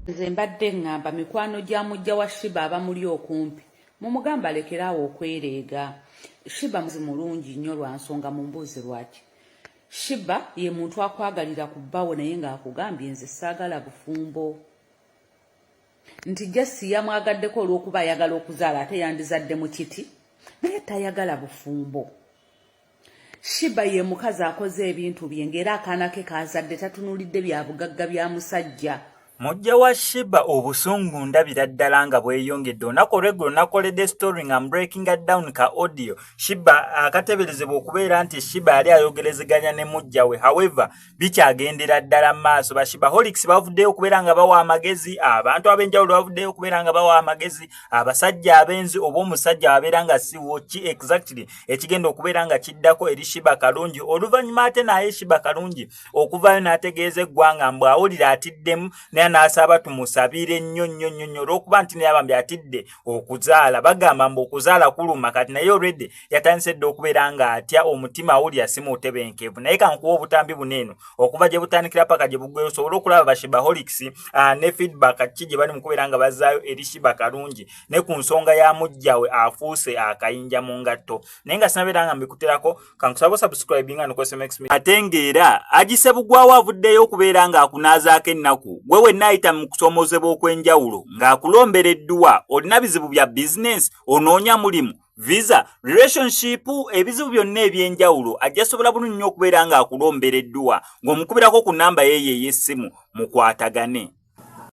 nze mbadde ŋŋamba mikwano gya mujja wa shiba abamuli okumpi mumugamba alekere awo okwereega shiba muzi mulungi nnyo lwa nsonga mu mbuuzi lwaki shiba ye muntu akwagalira ku bbawo naye ng'akugambye nze saagala bufumbo nti jasi yamwagaddeko olw'okuba ayagala okuzaala ate yandizadde mu kiti naye tayagala bufumbo shiba ye mukazi akoze ebintu bye ng'era akaana ke kaazadde tatunulidde bya bugagga bya musajja mujja wa shiba obusungu ndabira ddala nga bweyongedde olunaku olweggulo nakoledde story nga mbreakinga down ka audio shiba akateberezebwa okubeera nti shiba yali ayogerezeganya ne mujja we however bikyagendera ddala mu maaso bashibaholics bavuddeyo okubeera nga bawa amagezi abantu ab'enjawulo bavuddeyo okubeera nga bawa amagezi abasajja abenzi oba omusajja abeera nga siwo ki exactly ekigenda okubeera nga kiddako eri shiba kalungi oluvannyuma ate naye shiba kalungi okuvayo n'ategeeza eggwanga mbu awulira atiddemu naye n'asaba tumusabire nnyo nnyo nnyo nnyo olw'okuba nti naye abambi atidde okuzaala bagamba mbu okuzaala kuluma kati naye already yatandise dda okubeera nga atya omutima awulira si mutebenkevu naye kankuwa obutambi buneeno okuva gye butandikira paka gye bugweyo osobole okulaba bashibaholics ah, ne feedback ki gye bali mu kubeera nga bazaayo eri shiba kalungi ne ku nsonga ya mujjawe afuuse akayinja mu ngatto naye nga sinabeera nga mbikuterako kankusaba subscribe nga nukwese max me atengeera ajise bugwawo avuddeyo okubeera nga akunaazaako ennaku gwe wenna ayita mu kusoomozebwa okw'enjawulo ng'akulombera edduwa olina bizibu bya bizinensi onoonya mulimu visa relationship ebizibu byonna eby'enjawulo ajja sobola bulungi nnyo okubeera ng'akulombera edduwa ng'omukubirako ku nnamba yeeyo ey'essimu mukwatagane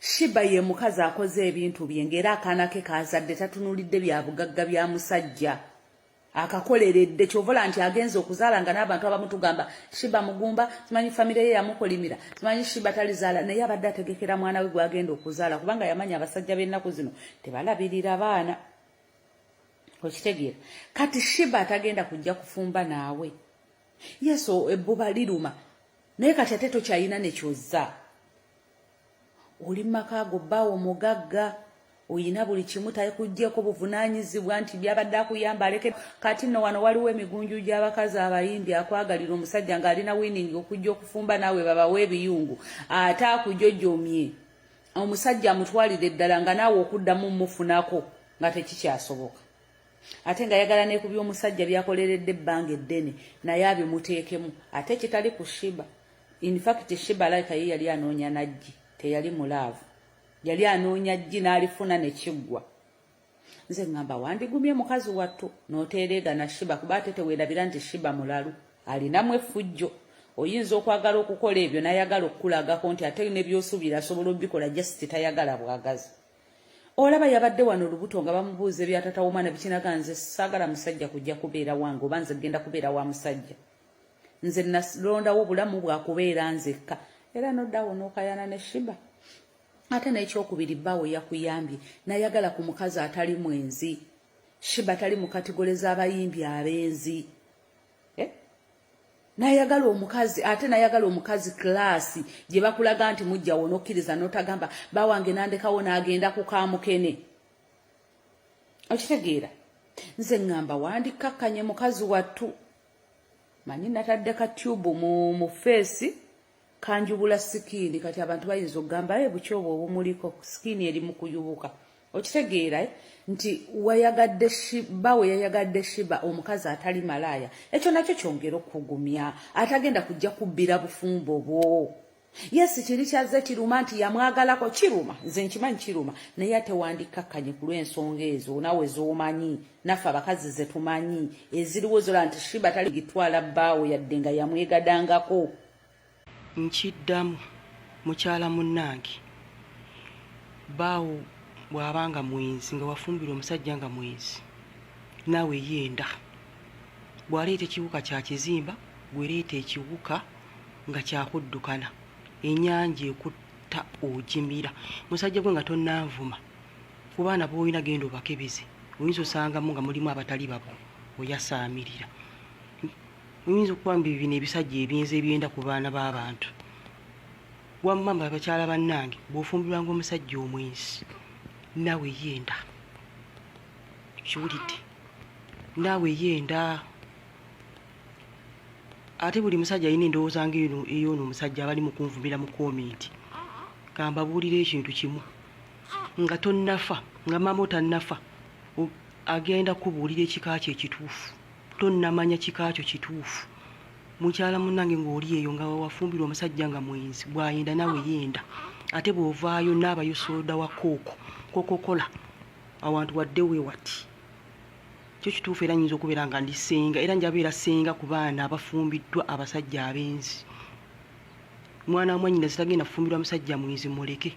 Shiba ye mukazi akoze ebintu bye ng'era akaana ke kaazadde tatunulidde bya bugagga bya musajja akakoleredde kyovola nti agenze okuzaala nga n'abantu abamu tugamba Shiba mugumba simanyi famire ye yamukolimira simanyi Shiba talizaala naye abadde ategekera mwana we gwagenda okuzaala kubanga yamanya abasajja b'ennaku zino tebalabirira baana okitegeera kati Shiba atagenda kujja kufumba naawe yesu ebbuba liruma naye kati ate tokyalina nekyozza oli mu maka ago bbaawo mugagga oyina buli kimu takugyeko buvunaanyizibwa nti byabadde akuyamba aleke kati nno wano waliwo emigunju gy'abakazi abayimbi akwagalira omusajja ng'alina winingi okujja okufumba naawe babawo ebiyungu ate akujojomye omusajja amutwalire eddala nga naawe okuddamu mufunako nga tekikyasoboka ate nga yagala ne ku by'omusajja byakoleredde ebbanga eddene naye abyo muteekemu ate kitali ku shiba in fact shiba like ye yali anoonya najji teyali mulaavu yali anoonya jji n'alifuna ne kiggwa nze ŋŋamba wandigumye mukazi wattu n'oteereegana shiba kuba ate teweerabira nti shiba mulalu alinamu effujjo oyinza okwagala okukola ebyo n'ayagala okukulagako nti ate ne by'osuubira asobola obikola just tayagala bwagazi olaba yabadde wano olubuto nga bamubuuza ebyatata womwana bikinaga nze saagala musajja kujja kubeera wange oba nze genda kubeera wa musajja nze nalondawo obulamu bwakubeera nzekka era noddawo nokayana ne shiba ate n'ekyokubiri bbaawo yakuyambye nayagala ku mukazi atali mwenzi shiba tali mu katigole z'abayimbi abenzi eh? nayagala omukazi ate nayagala omukazi kilaasi gye bakulaga nti mujja wonokkiriza notagamba bawange nandekawo n'agenda ku kamukene okitegeera nze ŋŋamba wandikkakkanye mukazi wattu manyi natadde ka tube mu mu face kanjubula skin kati abantu bayinza okugamba e eh, bukyobo obumuliko skin eri mu kuyubuka okitegeera eh, nti wayagadde shiba we yayagadde shiba omukazi atali malaaya ekyo nakyo kyongera okugumya atagenda kujja kubbira bufumbo bwo Yes kiri kyazze kiruma nti yamwagalako kiruma nze nkimanyi kiruma naye ate wandikkakkanye ku lw'ensonga ezo nawe z'omanyi naffe abakazi ze tumanyi eziriwo zola nti shiba tali gitwala bbaawo yadde nga yamwegadangako nkiddamu mukyala munnange baawo bw'aba nga mwenzi nga wafumbira omusajja nga mwenzi naawe yenda bw'aleeta ekiwuka kya kizimba gwereeta ekiwuka nga kyakuddukana enyanja ekutta ojimira musajja gwe nga tonanvuma ku baana boolina genda obakebeze oyinza osangamu nga mulimu abatali babo oyasaamirira oyinza okuba mbi bino ebisajja ebyenza ebyenda ku baana b'abantu wamma mba bakyala bannange bw'ofumbirwanga omusajja omwensi naawe yenda kiwulidde naawe yenda ate buli musajja alina endowooza nga eno eyoono omusajja abali mu kunvumira mu komenti kambabuulira ekintu kimu nga tonnafa nga maama otannafa agenda kubuulira ekika kyo ekituufu tonnamanya kika kyo kituufu mukyala munange ng'oli eyo nga wafumbirwa omusajja nga mwenzi bwayenda nawe yenda ate bw'ovaayo naabayo sooda wa kooko kokokola awantu wadde we wati kyo kituufu era nyinza okubeera nga ndi senga era njabeera senga ku baana abafumbiddwa abasajja abenzi mwana wamwanyina zitagenda kufumbirwa musajja mwenzi muleke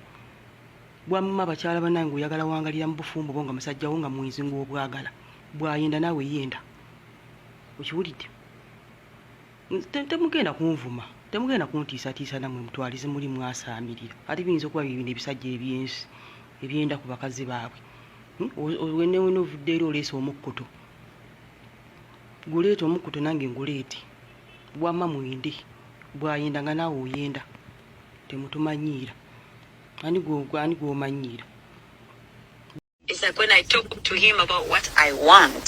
bwamma bakyala banange oyagala wangalira mu bufumbo bo nga musajja wo nga mwenzi ngaobwagala bwayenda naawe yenda okiwulidde temugenda kunvuma temugenda kuntiisatiisa namwe mutwalize muli mwasaamirira ate biyinza okuba bibino ebisajja ebyensi ebyenda ku bakazi baabwe hmm? wenewena ovudde era oleesa omukkuto guleeta omukkuto nange nguleete bwama mwende bwayenda nga naawe oyenda temutumanyiira ani gwomanyiira It's like when I talk to him about what I want.